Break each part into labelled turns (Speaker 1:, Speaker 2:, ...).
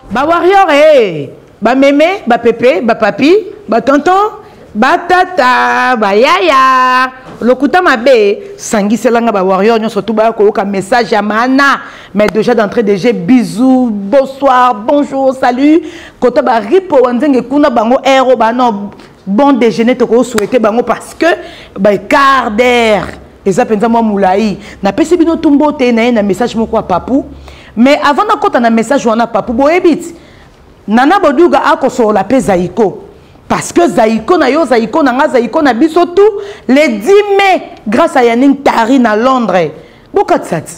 Speaker 1: ba warrior eh bameme bapepe bapapi batonton batata bayaya lokuta mabe sangisela nga bawarrior nyonso tu baya koyoka message ya maana mais déjà d'entrée de jeu bisous bonsoir bonjour salut kota baripo wanzenge kuna bango ero bano bon déjeuner toko souhaiter bango parce que ba quart d'heure eza penza mwa mulayi napesi bino tumbo te na ye na message moko ya papu mais avant nakota na message wana papu boyebi ti nana boduga akosolola mpe zaiko parce que zaiko na yo zaiko na nga zaiko na biso tout le 10 mai grâce à yanning tari na londres bokatisa ti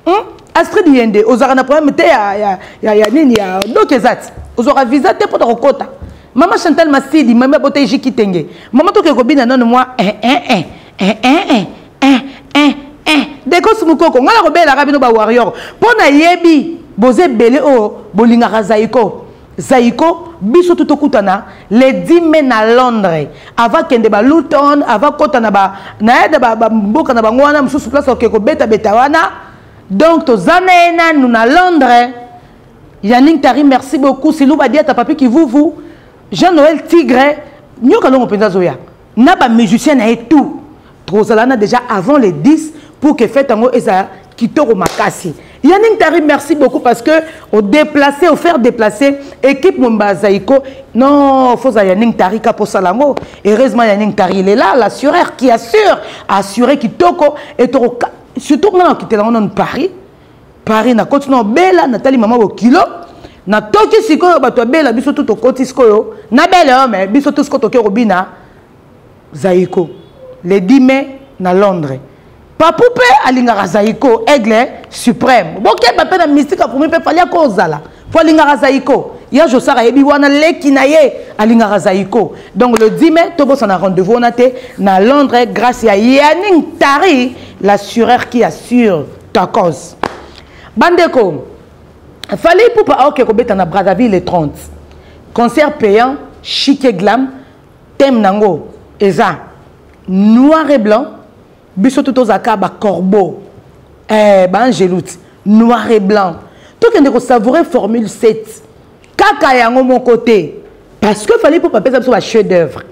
Speaker 1: hmm? astrid yende ozalaka na problème te ya, ya, ya, ya nini ya doki eza ti ozwaka visa te mpo na kokota mama chantal masidi mami abota eji kitenge mama tokee kobina nano mwa eh, eh, eh, eh, eh, eh, eh, eh, eh. dekos mokoko ngai nakobelaka bino bawarrior mpo nayebi boza ebele oyo bolingaka zaiko Zaiko biso tout tokutana le 10 mai na Londres ava kende ba Luton ava kota na ba na yada ba, ba mboka na bango wana mosusu place oke kobeta beta wana donc toza na ye nanu na Londres Yannick Tari merci beaucoup Silou Badiata Papi Kivuvu Jean Noël Tigre nyoka longo mpenza azoya na ba musiciens na ye tout tozala na déjà avant le 10 pour que fête yango eza kitoko makasi Yannick Tari, merci beaucoup parce que au déplacer, au faire déplacer, équipe Mumba Zaiko, non, faut à Yannick Tari pour Salango. Heureusement, Yannick Tari, il est là, l'assureur qui assure, assurer qui toko, et toko, surtout quand on quitte là, on Paris, paris nakoti na obela natali mama bokilo natoki sikoyo bato ya bela biso tu tokoti sikoyo na bele oyo me biso tu sikoyo toke kobina zaiko le 10 mai na londres papu mpe alingaka zaiko aigle suprême bokeba mpe na mystique akomi mpe fali ako ozala mpo alingaka zaiko ya josar ayebi wana leki na ye alingaka zaiko donc le 10 mai tobosana rendez-vous wana te na londres grâce ya yanning tari l'assureur qui assure tokos bandeko fali ipupa aoke kobeta na brazzaville le 30 concert payant chique glam thème nango eza noir et blanc biso tout tozalaka bacorbeau eh, baangeloute noir et blanc tokende kosavoure formule 7 kaka yango moko te parce que fallait ipupa apesa biso ba chef d'œuvre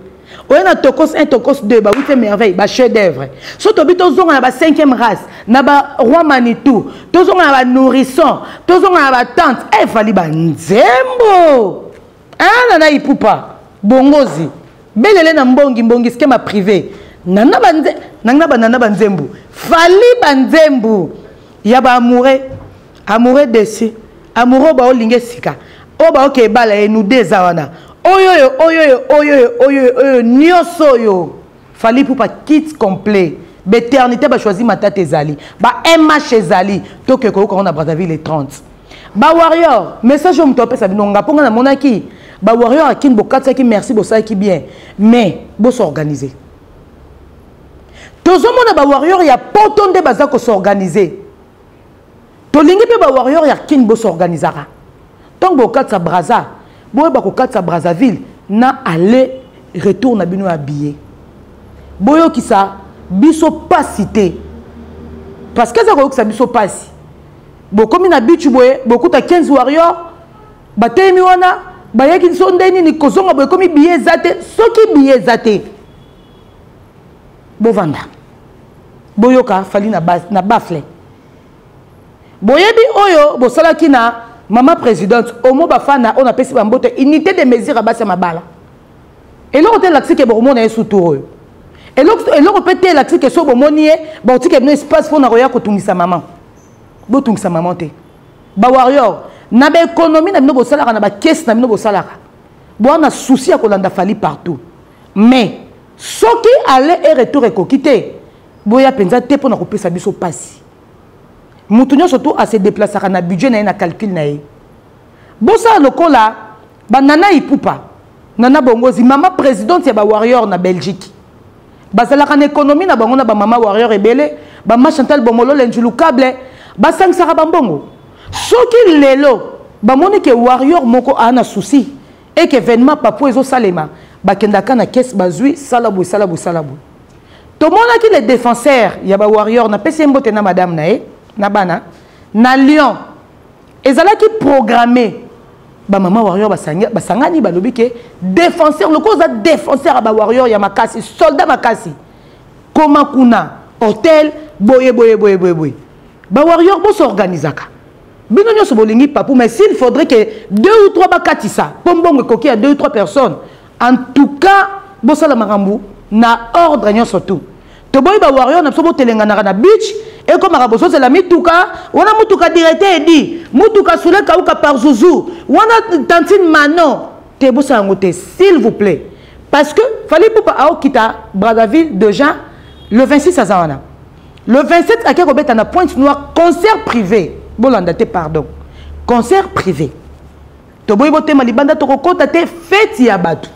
Speaker 1: oye na tokos 1 tokos 2 bawite merveille ba chef d'œuvre so tobi tozonga na ba 5e race na ba roi manitou tozonga na ba nourrisson tozonga na ba tante e eh, fali banzembo ana ah, na ipupa bongozi belele na mbongi mbongi skema privé nana banze nanga banana banzembu fali banzembu ya baamoureux amoureux dessus amoureux ba olinge sika oyo ba oke ebala ye nous deux awana oyo oyo oyo oyo oyo oyo oyo nioso oyo fali pupa kit complet beternité ba choisi matata ezali ba mh ezali toke koyoka ngo na Brazzaville le 30 ba warrior message oyo moto apesa bino nga mponga namonaki ba warrior akin bokatisaki merci bosalaki bien mais bosorganiser tozomona ba warrior ya poto nde baza kosorganiser tolingi mpe ba warrior ya kin bosorganisaka ntango bokokatisa braza boyeba kokatisa brazzaville na aller retour na bino ya billet boyokisa biso mpasi te parce que eza koyokisa biso mpasi bokomi na bichu boye bokuta 15 warrior bateyemi wana bayaki biso nde nini kozonga boye ekomi biye eza te soki biye eza te bovanda boyoka fali na, bas, na bafle boyebi oyo bosalaki na mama présidente omo bafana oyo napesi bambote unité de mesure ya basi ya mabala eloko te elakisi ke bokomona ye sutur oyo eloko mpe te elakisi ke so bomoni ye bakotika bino espace mpo na koya kotungisa mama botungisa mama te bawarrior na baekonomi na bino bosalaka na bakesi na bino bosalaka boa na souci ya kolanda fali partout mais soki aller et retour ekoki te boya mpenza te mpo na kopesa biso mpasi moto nyonso tu ase deplasaka na budget na ye na calcule na ye bosala lokola banana ipupa nana bongozi mama présidente ya bawarrior na belgique bazalaka na économie na bango na bamama warrior ebele bama chantal bomolole njulu cable basangisaka bambongo soki lelo bamoni ke warrior moko aa na souci et que événement papou ezosalema bakendaka na kese bazwi sala boye sala boye sala boye tomonaki le défenseur ya bawarrior napesi ye mbote na madame na ye na bana na lyon ezalaki programme bamama warrior basangani balobi ke défenseur lokola oza défenseur ya bawarrior ya makasi soldat makasi koma kuna hotel boye boye boye boye boye bawarrior bosorganisaka bino nionso bolingi papou mais s'il faudrait que deux ou trois bakatisa mpo mbongo ekoki ya deux ou trois personnes en tout cas bosala makambo na ordre nionso tout toboyi ba warrior na biso botelenganaka na beach ekomaka bozozela mituka wana mutuka directeur edi mutuka sule kauka par zuzu wana tantine mano te bosala yango te s'il vous plaît parce que fali pupa aokita brazzaville déjà le 26 aza wana Le 27 ake kobeta na Pointe Noire concert privé. Bolanda te pardon. Concert privé. Toboyi botema libanda tokokota te fête ya batu.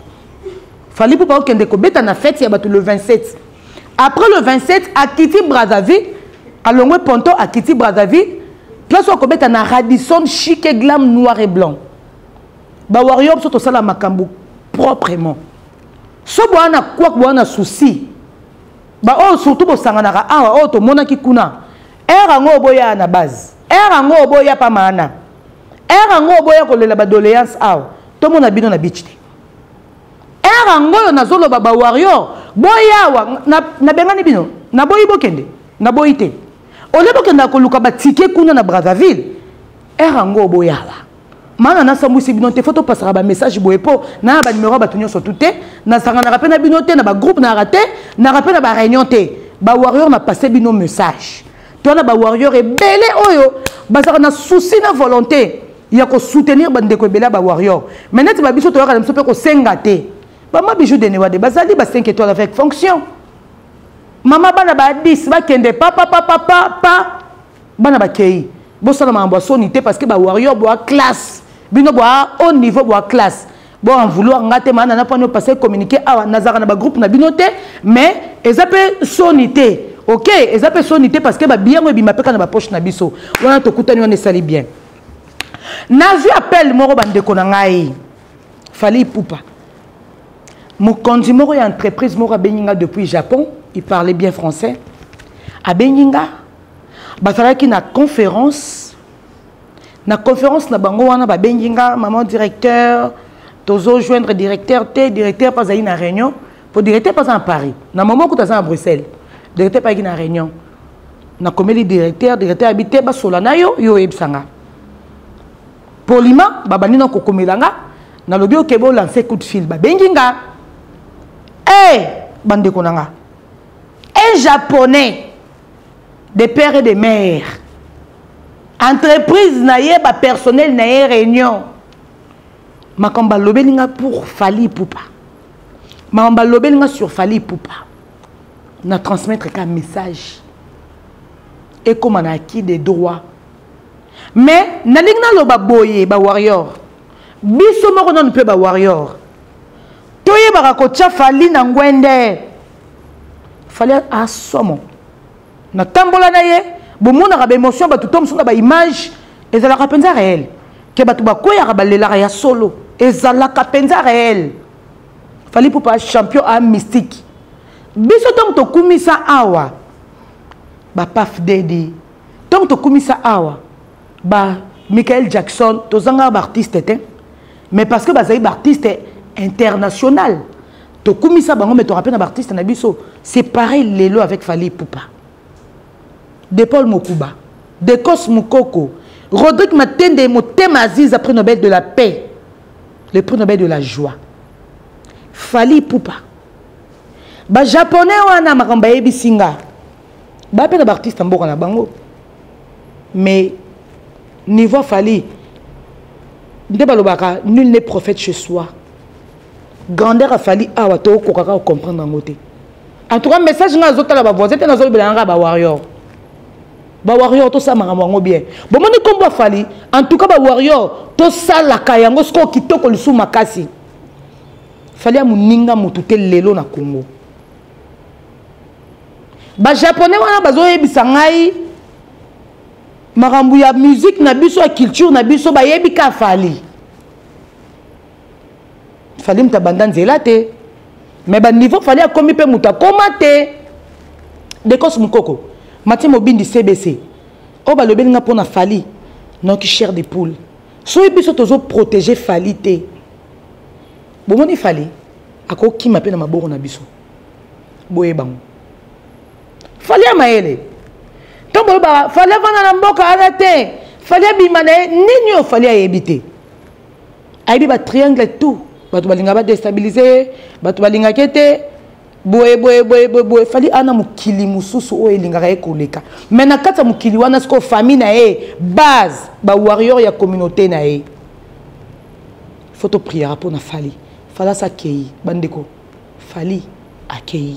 Speaker 1: Fally Poupa okende kobeta na fête ya batu le 27. Après le 27 akiti Brazzaville, alongwe Ponto akiti Brazzaville, place okobeta na Radisson chic et glam noir et blanc. Ba warrior biso tosala makambo proprement. So boana kwak boana souci. ba oyo surtout bosanganaka awa oyo tomonaki kuna ere yango oboyaa na base ere yango oboya pa maana ere yango oboya kolela badoleance awa tomona bino na bichi te ere yango oyo nazoloba bawarrior boyawa nabengani bino naboyi bokende naboyi te olie bokendaka koluka batike kuna na brazzaville ere yango oboyawa mana nasambwisi bino te fo topasaka bamessage boye mpo naya banimero ya bato nyonso tu te nasanganaka mpe na bino te na bagroupe nayaka te naka mpe na bareunion te bawarrior na passe bino message to wana bawarrior ebele oyo bazalaka na souci na volonté ya kosoutenir bandeko ebele ya bawarrior mai neti babiso toyaka na biso mpe kosenga te bama bijou de newade bazali ba 5 étoile avec fonction mama bana ba 10 bakende papapapapapa bana bakei bosala makambo ya soni te parce que ba warrior boa classe bino boa haut niveau boa classe bo en vouloir nga te maana na pano passer communiquer awa nazaka na ba groupe na bino te mais eza pe soni te ok eza pe soni te parce que ba biyango ebima pe kana ba poche na biso wana tokutani wana esali bien nazwi appel moko bandeko na ngai fali ipupa mokonzi moko ya entreprise moko abengi nga depuis japon il parlait bien français abengi nga bazalaki na conférence na conférence na bango wana babengi nga maman directeur tozojoindre directeur te directeur mpe azali na réunion mpo directeur mpe aza na paris na mama okuta aza na bruxelles directeur mpe ayaki na réunion nakomeli directeur directeur abi te basola na yo yo oyebisa nga polima babandi na kokomela nga nalobi okebe olanse coup de fil babengi nga e eh, hey, bandeko na nga un japonais de père et de mère entreprise na ye bapersonnel na ye réunion makambo balobeli nga pour fali pupa makambo balobeli nga sur fali pupa na transmettre ka message ekóma na acquis de droit mais nalingi naloba boye bawarrior biso moko nano mpe bawarrior toyebaka kotya fali na ngwende fali asomo natambola na ye bomonaka baémotion bato to mosusu na baimage ezalaka mpenza réel ke bato bakweyaka balelaka ya solo ezalaka mpenza réel fali pupa champion a mystique biso ntango tokumisa awa bapaf dedi ntango tokumisa awa ba michael jackson tozanga baartiste te mais parce que bazali baartiste international tokumisa bango me toka mpe na baartiste na biso c'est pareil lelo avec fali pupa de paul mokuba decos mokoko rodrigue matende motema aziza prix nobel de la paix le prix nobel de la joie fali pupa bajaponais wana makambo bayebisi nga baya mpe na baartiste ya mboka na bango mais niveau fali nde balobaka nul ne prophète chez soi grandeur ya fali awa tokoka kaka kocomprendre yango te en tout cas message ngai azotala bavoisin te nazolobela nanga bawarrior bawarrior tosala makambo yango bien bomoni nkombo afali en tout cas bawarrior tosalaka yango sikoyo kitoko lisusu makasi fali ya moninga motu te lelo na congo bajaponais wana bazoyebisa ngai makambo ya musike na biso ya culture na biso bayebi ka fali fali moto abanda nzela te me baniveau fali akomi mpe moto akoma te dekos mokoko matie mobindi cbc oyo balobeli nga mpo na fali noki chair de poule soki biso tozoprotege fali te bomoni fali akokima mpe na maboko na biso boye bango fali ya mayele ntango boyebaka fali avanda na mboka ana te fali abima na ye nini oyo fali ayebi te ayebi ba triangle tout bato balingaka badestabilize ye bato balingaka ye te boye boye boye boye boye fali ana mokili mosusu oyo elingaka ye koleka mai na kati ya mokili wana sikoyo famille na ye base bawarrior ya communauté na ye fo topriaka mpo na fali fali asa akei bandeko fali akei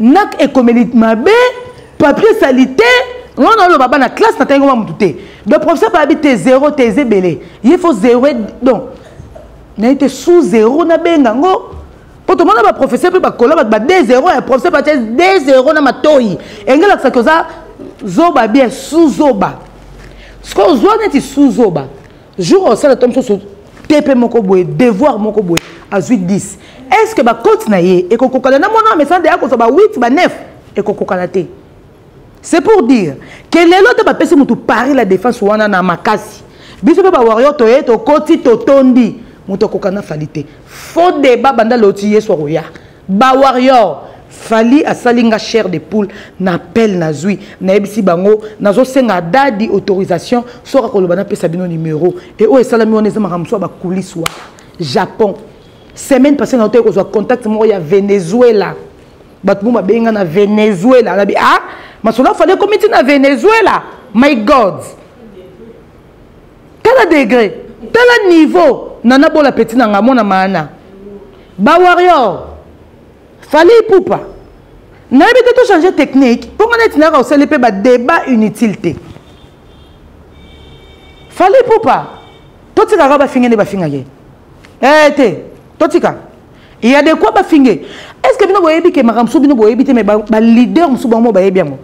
Speaker 1: nak ekomeli mabe papier salite nga na oloba bana classe na tangi mutu te donc professeur babi te zero te eza ebele ye faut zero donc naye te sous zero nabenga yango mpo tomona baprofesseur mpe bakola bato ba de zero ya professeur bate de zero na matoi engelakisaki oza zoba bien sous zoba sikoyo ozwa neti sous zoba jour osala to mosusu tepe moko boye devoir moko boye azwi 10 est ce que bacote na ye ekokokana na mwana amesana deya kozwa ba 8 ba 9 ekokokana te c'est pour dire ke lelo te bapesi motu paris la défense wana na makasi biso mpe bawario toye tokoti totondi moto akokana fali te fo deba banda loti yesu akoya Ba warrior Fally asali nga chair de poule na appel nazui nayebisi bango nazosenga dadi autorisation soki akoloba napesa bino numero e oyo esalami wana eza makambo mosusu ya bakulisi wana japon semaine passé na otoki kozwa contact moko ya venezuela bato mo babengi nga na venezuela nabi a ah, masolo afali ekomi ti na venezuela my god tala degre tala niveau nana bola peti na nga mwana maana bawarrior fali ipupa nayebi te tochange technique mpo ngai neti nayaka osali mpe badebat inutile te fali ipupa totikaka bafinge nde bafingaka ye ee eh, te totika ya de quoi bafinge est ce que bino boyebi ke makambo mosusu bino boyebi te mai baleader mosusu bango bayebi yango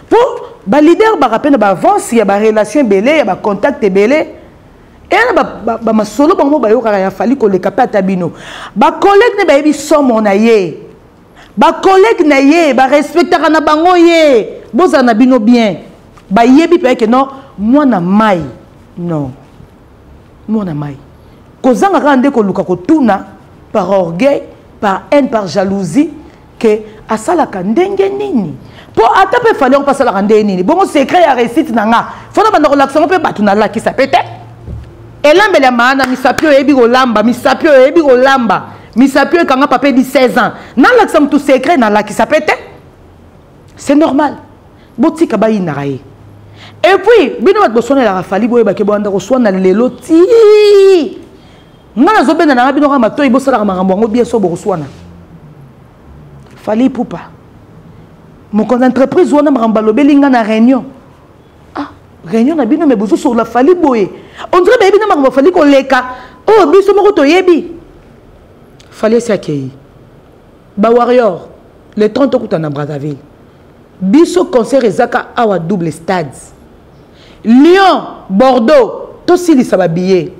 Speaker 1: po ba leader baka pe na ba avance ya ba relation ebele ya ba contact ebele eyana ba, ba, ba masolo bango bayokaka ya fali koleka pe ata bino ba collègue ne bayebi somo na ye ba collègue na ye ba respectaka na bango ye bozala na bino bien bayebi pe ke non mwana mai non mwana mai kozanga kaka nde koluka kotuna par orgueil par haine par jalousie que asalaka ndenge nini mpo ata mpe fali yango mpe asalaka ndenge nini bongo secret ya réussite na nga fo na banda kolakisa yango mpe bato nalakisa mpe te elambeli ya maana misapi oyo eyebi kolamba misapi oyo eyebi kolamba misapi oyo ekanga papa edi 16 ans nalakisa motu secret nalakisa mpe te c'est normal botika bayinaka ye epuis bino bato boswanelaka fali boyebake boyanda koswana lelo tii nga nazobenda nanga bino kaka matoi bosalaka makambo yango bien so bokoswana fali pupa mokonzi entreprise wana makambo balobeli nga na réunion ah réunion na bino me bozosolola fali boye ondire bayebi na makambo fali koleka oyo oh, biso moko toyebi fali esi akei bawarrior le 30 okutana na brazzaville biso concert ezaka awa double stade lyon bordeaux tosilisa babillet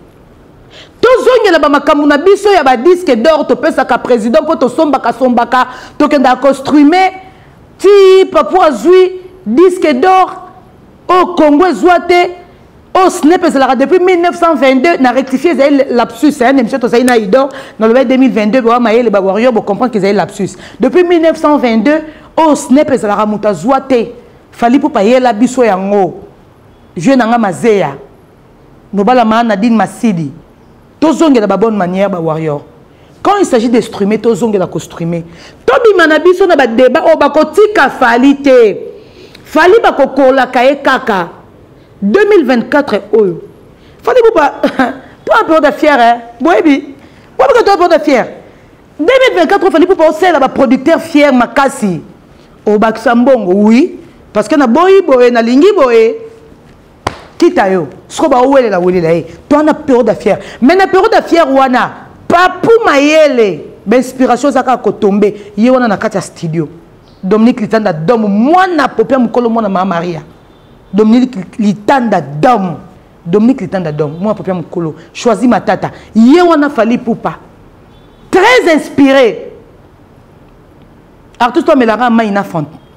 Speaker 1: tozongela bamakambo na biso ya badisque dor topesaka président mpo tosombaka sombaka tokendaka costrume ti papo azwi disque dor oyo congo ezwa te oyo snep ezalaka depuis 1922 na rectifie ezali lapsus ya na émission tozali na idor nalobai 2022 bawa mayele bawarrior bocomprendre ke ezali lapsus depuis 1922 oyo snep ezalaka moto azwa te fali pupa yela biso yango vieux na nga mazeya nobala maa nadine masidi tozongela ba bonne manière ba warrior quand il s'agit de streamer tozongela ko streamer tobima na biso na badeba oyo bakotika fali te fali bakokolaka ye kaka 2024 oyo fali buba to un peu de fière eh? boyebi boyebika to un peu de fière 2024 fali buba osalela baproducteur fière makasi obakisa mbongo oui parce que naboyi boye nalingi boye quitte à yo soko baowelela welela ye to wana pero da fière mais na pero da fière wana papu mayele bainspiration eza kaka kotombe ye wana na kati ya studio dominique litanda dom mwana popia mokolo mwana maa maria dominique litanda dom dominique litanda dom mwana popia mokolo choisi matata ye wana fali pupa très inspiré artiste omelaka mai na fante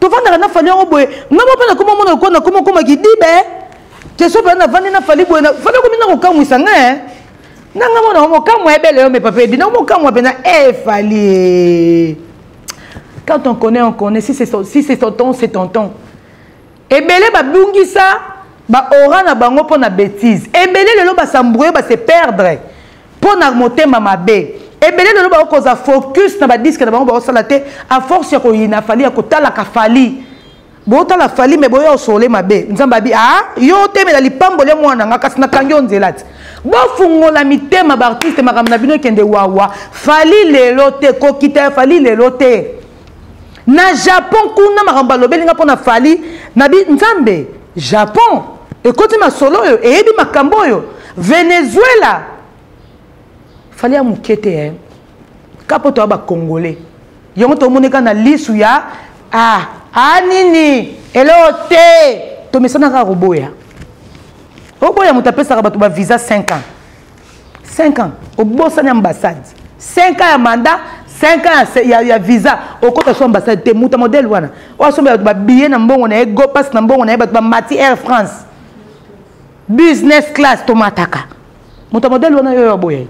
Speaker 1: tovandaka na fali yango boye nga moko mpe nakoma mona lokola nakoma okoma kidibe keso mpe navandi na fali boye fali okomi na kokamwisa nga eh. na nga mona mokamwa ebele yo mepape ebi na mokamwa mpenza e fali eh. quand on connaît on connaît si c'est si ton temps c'est ton temps Ebele ba bungisa ba aura na bango mpo na betise. Ebele lelo ba s'embrouiller ba se perdre mpo na motema mabe. Ebele lelo ba koza focus na ba disque na bango ba osala te à force ya koyina fali ya kotala ka fali. Botala fali mais boya osole mabe. Nzambe abi ah yo temela lipambo lya mwana nga kasi nakangi yo nzela te. Bofungola mitema ba artiste makambo na bino ekende wawa. Fali lelo te kokita ya fali lelo te. Na Japon kuna makambo balobeli nga pona Fally na bi Nzambe Japon ekoti masolo oyo eyebi makambo oyo Venezuela Fally ya moke te eh. ka mpo toya bacongolais yango tomoni kaka na lisu ya ah, ah nini eloo te tomesana kaka koboya oboya moto apesaka bato bavisa 5 ans 5 ans obosani ambassade 5 ans ya mandat 5 ans ya, ya visa okota so ambassade te muta modele wana oyo asombela bato babiye na mbongo na ye gopas na mbongo na ye bato bamati air france business class tomataka muta modele wana yo yaboye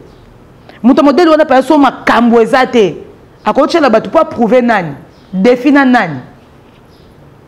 Speaker 1: muta modele wana paya so makambo eza te akotyela bato mpo aprouve nani defi na nani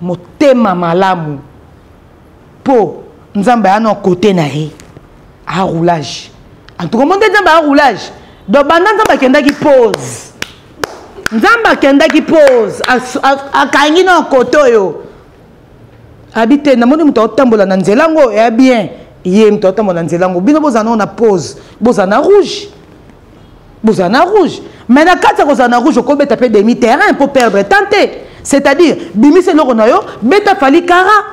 Speaker 1: motema malamu po nzambe aya na kote na ye a roulage en tout cas monde nzambe a roulage donc banda nzambe akendaki pose nzambe akendaki pose akangi na kote oyo abi te namoni moto aotambola na nzela yango ya bien ye moto aotambola na nzela yango bino bozala nao na pose bozala na rouge bozala na rouge mais na kati ya kozala na rouge okobeta mpe demi terrain mpo perdre temps te c'est-à-dire bimisa eloko na yo beta fali kara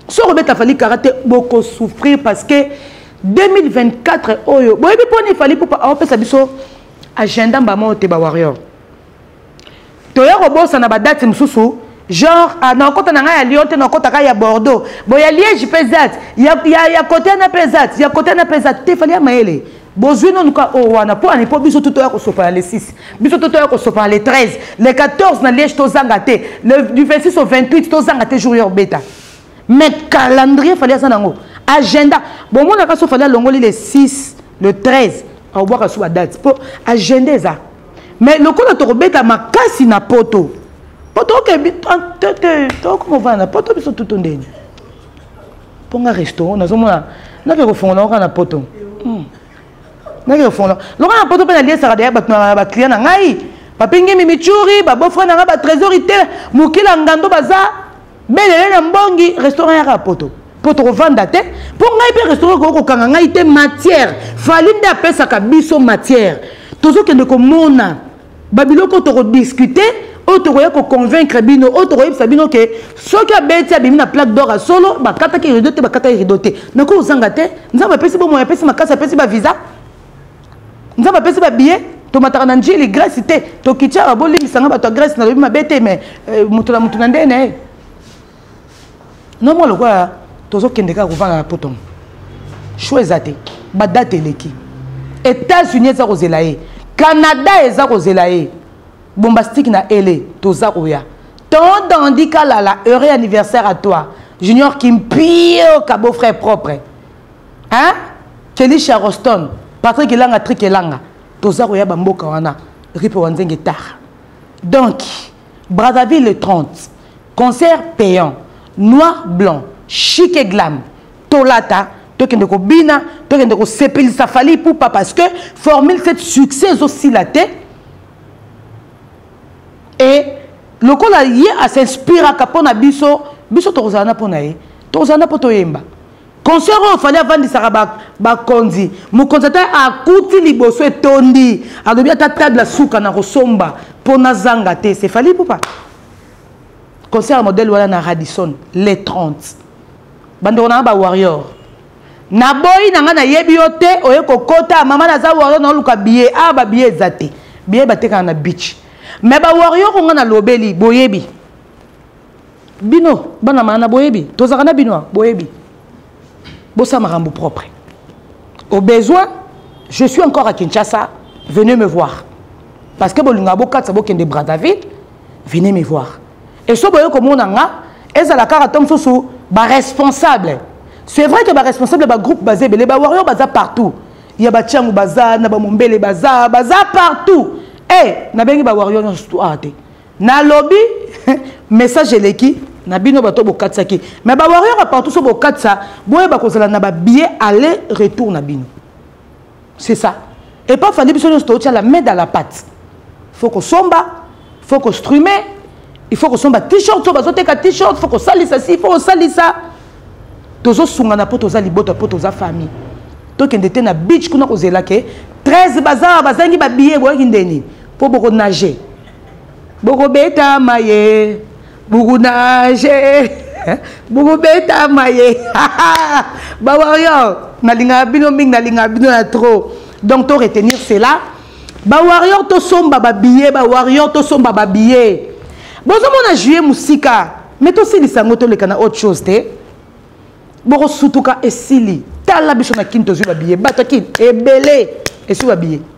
Speaker 1: soki obeta fali kara te bokosouffrir parce que 2024 oyo boyebi mpo nini fali pupa aopesa biso agenda mbama oyo te bawarrior toya kobosana badate mosusu genre ah, nakokota na ngai ya lyon te nakokota kaka ya bordeaux bo ya liège mpe ezati ya, ya, ya kote wana mpe ezati ya kote wana mpe ezati te fali ya mayele bozwi nanu ka oyo oh, wana mpo ani mpo biso to toya kosopana le 6 biso to toya kosopana le 13 le 14 na liège tozanga te le, du 26 au 28 tozanga te jour ya obeta mais calendrier fali aza nango agenda bomonaka so fali alongoli le 6 le 13 aobwaka so badate mpo agenda eza mais lokola tokobeta makasi na poto poto okebi tokoma ovanda na poto biso tutu ndeni mpo nga restaurant nazomona nake kofongola oka na poto hmm. nake kofongola loka na poto mpe naliesaka deya bato na baclient na ngai bapingi mimichuri babofre na ngai batrésori te mokila ngando baza belele na mbongi restaurant yaka poto mpo tokovanda te mpo ngai mpe restaurant ekoki kokanga ngai te matière fali nde apesaka biso matière tozokende komona babiloko tokodiskute oyo tokoya koconvaincre bino oyo tokoyebisa bino ke soki abeti abimi na plaque dor ya solo bakataki rido te bakataki rido te nakoki kozanga te nzambe apesi bomoi apesi makasi apesi bavisa nzambe apesi babiye tomataka na njili grèce te tokitiaka bolimbisa nga bato ya grèce nalobi mabe te mais euh, moto na moto na ndenge na ye nomwa lokola tozokende kaka kovanda na potomo sho eza te badate eleki états-unis eza kozela ye canada eza kozela ye bombastike na ele toza koya tant dandi kalala heureux anniversaire à toi junior kimpio kabo frère propre hein Kelly Charoston Patrick Elanga Trick Elanga toza koya ba mboka wana ripe wa nzenge tard donc Brazzaville le 30 concert payant noir blanc chic et glam tolata tokende kobina tokende kosepelisa fali pupa parce que formule cette succès ezosila te et lokola ye asinspiraka mpo na biso biso tokozala na mpo na ye tokozala na mpo toyemba concert oyo fali avandisaka bakonzi ba mokonzi ata akuti liboso etondi alobi ata table suka na kosomba mpo nazanga te se fali pupa concert ya modele wana na radison le 30 bandeko nanga bawarrior naboyi na ngai nayebi yo te oye kokota mama naza warrior naoluka biye awa ah, babiye eza te biye batekaka na beach me bawarrior onga nalobeli boyebi bino bana maana boyebi tozalaka na bino boyebi bosala makambo propre au besoin je suis encore à kinshasa venez me voir parce que bolingaka bokatisa bokende brazzaville venez me voir et so boye komona nga ezala kaka to mosusu baresponsable c'est vrai que baresponsable bagroupe baza ebele bawario baza partout ya batiango baza na bamombele baza baza partout e eh, nabengi bawario nyonso awa te Na lobi message eleki na bino bato bokatisaki mais ba warrior ya partout so bokatisa boyeba kozala na ba billet aller retour na bino c'est ça et pas fandi biso nyonso tootya la main dans la patte faut kosomba faut kostrume il faut kosomba t-shirt so bazoteka t-shirt faut kosalisa si faut kosalisa tozosungana mpo toza libota mpo toza famille tokende te na beach kuna kozela ke 13 bazawa bazangi babillet boyaki ndeni mpo bokonage bokobetama ye bukunage bokobetama ye bawarrior nalingaka bino mingi nalingaka bino ya trop donc to retenir cela bawarrior tosomba babillet bawarrior tosomba babillet bozomona juillet mosika mais tosilisa yango toleka na autre chose te bokosutuka esili tala biso na kini tozwi babillet bato ya kini ebele eswi babillet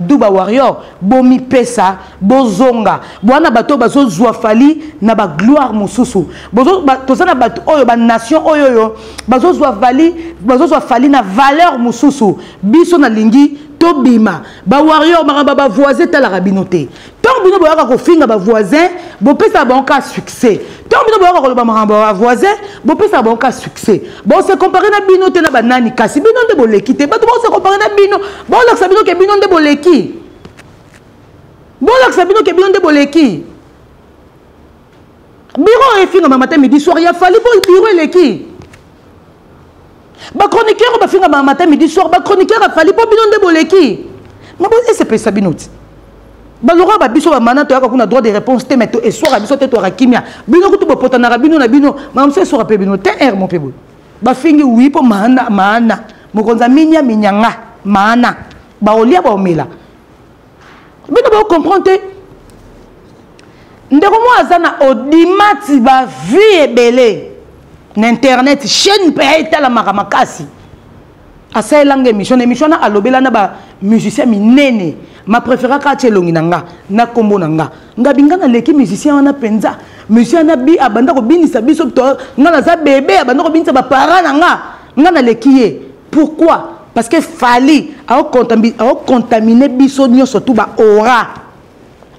Speaker 1: Duba warrior bomi pesa bozonga bwana bato bazo zua fali na ba gloire mususu bozo ba, toza na bato oyo ba nation oyo oyo bazo zua vali bazo zua fali na valeur mususu biso na lingi tobima ba warrior makambo ba voisin talaka bino te ntango bino boyaka kofinga bavoisin bopesaka bango ka succès ntango bino boyaka koloba makambo ya bavoisin bopesaka bango ka succès bose compare na bino te na banani kasi bino nde boleki te bato bose compare na bino bolakisa bino ke bino nde boleki bolakisa bino ke bino nde boleki biro efingama mata midi soir ya fali po biro eleki ba chroniqueur bafinga ma matin midi soir ba chroniqueur afali mpo bino nde boleki ma bosepelisa bino ti balora ba biso bamana toyaka kuna droit de réponse te mai to eswaka biso te toyaka kimia bino kutu bopotanaka bino na bino mamosu eswaka mpe bino te r mo mpe boye bafingi wi mpo maana maana mokonzi aminya minyanga maana baolia baomela bino bo comprendre te ndeko moko aza na odimati ba vie ebele na internet chaîne mpe ya etalamaka makasi asalelanga émission na émission na alobela na ba musicien minene ma préféra kaka ti elongi na nga na nkombo na nga nga binga naleki musicien wana mpenza musicien wana bi abanda kobinisa biso nga naza bebe abanda kobinisa bapara na nga nga naleki ye pourquoi parce que fali aocontamine biso nyonso tu baora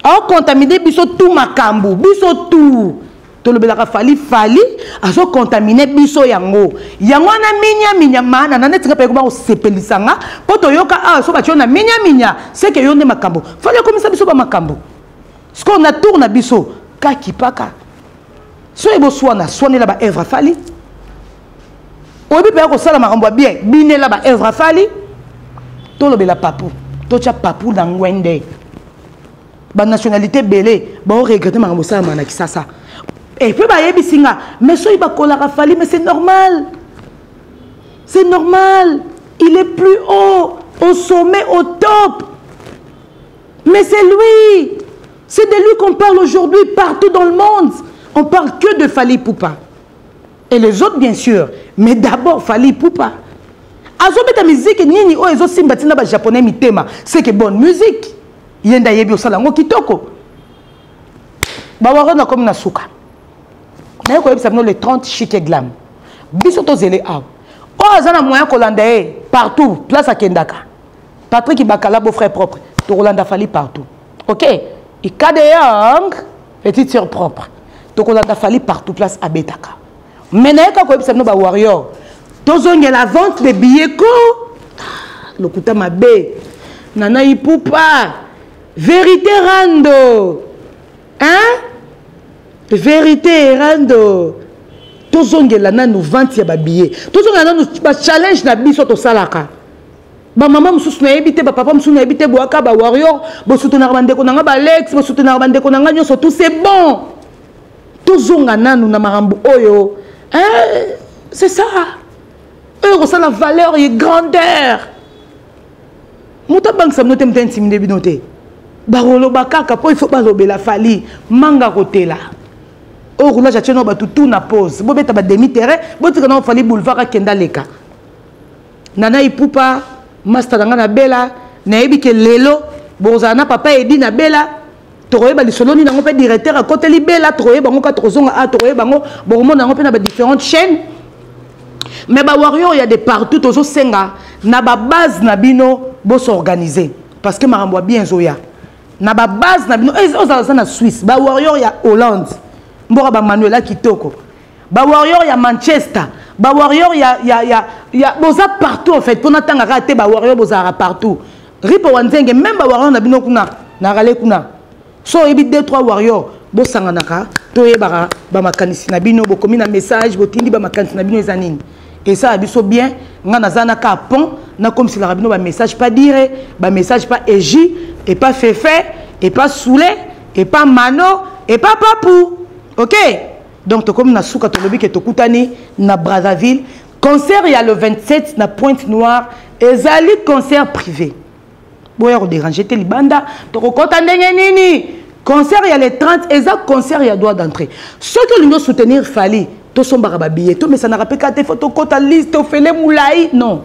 Speaker 1: aocontamine biso tu makambo biso tu tolobelaka fali fali azocontamine biso yango yango wana minyaminya maana na neti nga mpe ekoba kosepelisa nga mpo toyoka awa ah, so batyo na minyaminya seke yo nde makambo fali akomisa biso bamakambo sikoyo na tour na biso kakipaka soki boswana swanela baevre fali oyebi mpe akosala makambo ya bien binela ba œuvre afali tolobela papu totya papu na ngwende banationalité ebele baoregrete makambo osalama na kisasa epe bayebisi nga mais soki bakolaka fali mais c'est normal c'est normal il est plus haut au sommet au top mais c'est lui c'est de lui qu'on parle aujourd'hui partout dans le monde on parle que de fali poupa et les autres bien sûr mais d'abord fali ipupa azobeta miziki nini oyo ezosimba ntina bajaponais mitema seke bonne musique ye nde ayebi osala yango kitoko bawaro nakomi na suka naye koyebisa bino le 30 chike glam biso tozele awa oyo aza na moyen kolanda ye partout place akendaka patrik bakala beau frère propre tokolanda fali partout ok ikade yang petite sœur propre tokolanda fali partout place abetaka mais naye kaka koyebisa bino ba warrior tozongela vente de billet ko ah, lokuta mabe nana ipupa vérité rando hein vérité rando tozongela nanu vente ya babillet tozongela nanu bachallenge na biso tosalaka ba mama mosusu nayebi te bapapa mosusu nayebi te boyaka ba warrior bosutenaka bandeko na nga balex bosutenaka bandeko na nga nyonso tout c'est bon tozonga nanu na makambo oyo eh, c'est ça oyo ekosala valeur ye grandeur moto abangisa bino te moto intimide bino te bakoloba kaka mpo ifo balobela fali manga kotela oyo roulage atie nao bato tout na pose bobeta bademi terrain botika nao fali boulevard akenda leka nana ipupa masta na ngai na bela nayebi ke lelo bokozala na papa edi na bela tokoyeba lisolo nini yango mpe directeur akoteli bela tokoyeba yango mpe tokozonga a ah, tokoyeba yango bokomona yango mpe na badifférentes chaînes mais bawarrior ya de partout tozosenga na babase na bino bosorganize parce que makambo ya bien ezoya na babase na bino eh, ozala za na swisse bawarrior ya hollande mboka bamanuela kitoko ba warrior ya manchester ba warrior ya, ya, ya, ya boza partout en fait mpo natanga kaka te ba warrior bozalaka partout ripo wa nzenge meme ba warrior na bino kuna na rale kuna so oyebi 2 3 warrior bosanganaka toyebaka bamakanisi na bino bokomi na message botindi bamakanisi na bino eza nini esala biso bien ngai naza na ka pont nakomiselaka bino bamessage pa dire bamessage pa egi epa fefe epa soule epa mano epa papu okay donc tokomi na suka tolobi ke tokutani na brazzaville concert ya le 27 na pointe noire ezali concert privé boya koderange te libanda tokokɔta ndenge nini concert ya le 30 eza concert ya droit d'entrée soki olingi osoutenir fali tosombaka babillet tomesanaka mpe kaka te fo tokɔta liste ofele molai non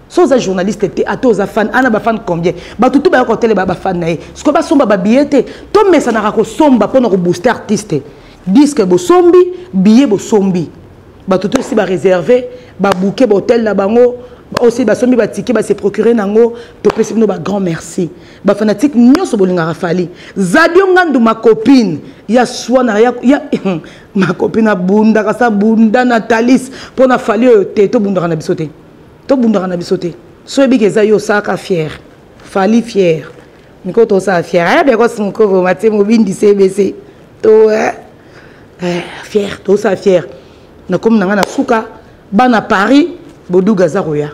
Speaker 1: so oza journaliste te ata oza fan ana bafan combien bato tu bayaka koteleba bafan na ye sikoyo basomba babiye te tomesanaka kosomba mpo na kobooste artiste diske bosombi biye bosombi bato to esi bareserve babuke bahotel na bango osi basombi batike base procure na yango topesi bino bagrand merci bafanatike nyonso bolingaka fali zadio ngandu macopine ya swana ya, ya macopine abundaka sa bunda na talis mpo na fali oyo te tobundaka na biso te tobundaka na biso te so oyebiki eza yo osalaka fiere fali fiere miko tosala fiere aya biakos mokoko matie mobindi cbc to eh, eh, fiere tosala fiere nakomi na ngai na suka bana paris boduga aza koya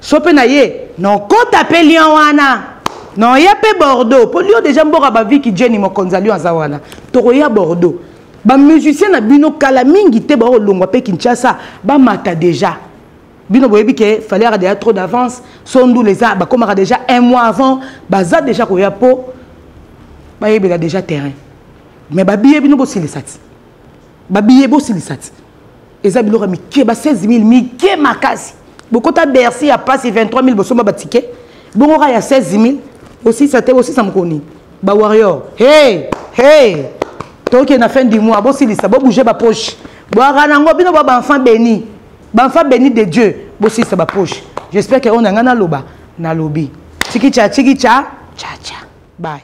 Speaker 1: so mpe na ye nokota mpe lion wana noya mpe bordeaux mpo lion deja mboka baviki jeni mokonzi ya lion aza wana tokoya bordeaux bamusicien na bino kala mingi te bakolongwa mpe kinshasa bamata deja bino boyebi ke fallait aka deja trop d'avance so ndula eza bakomaka déjà un mois avant baza déjà koya mpo bayebela déjà terrain mais babiye bino bosilisa ti babiye bosilisa ti eza biloko ya mike ba 16 000 mike makasi bokota bercy ya pasi 23 000 bosomba batike bongo kaka ya 16 000 osisa te osisa mokoni bawarrior hey hey tokende na fin du mois bosilisa bobouge bapoche bwaka nango bino bwa baenfant béni Banfa béni de Dieu, bosilisa ba poche. J'espère que on a ngana loba, na lobi. Chikicha, chikicha, cha cha. Bye.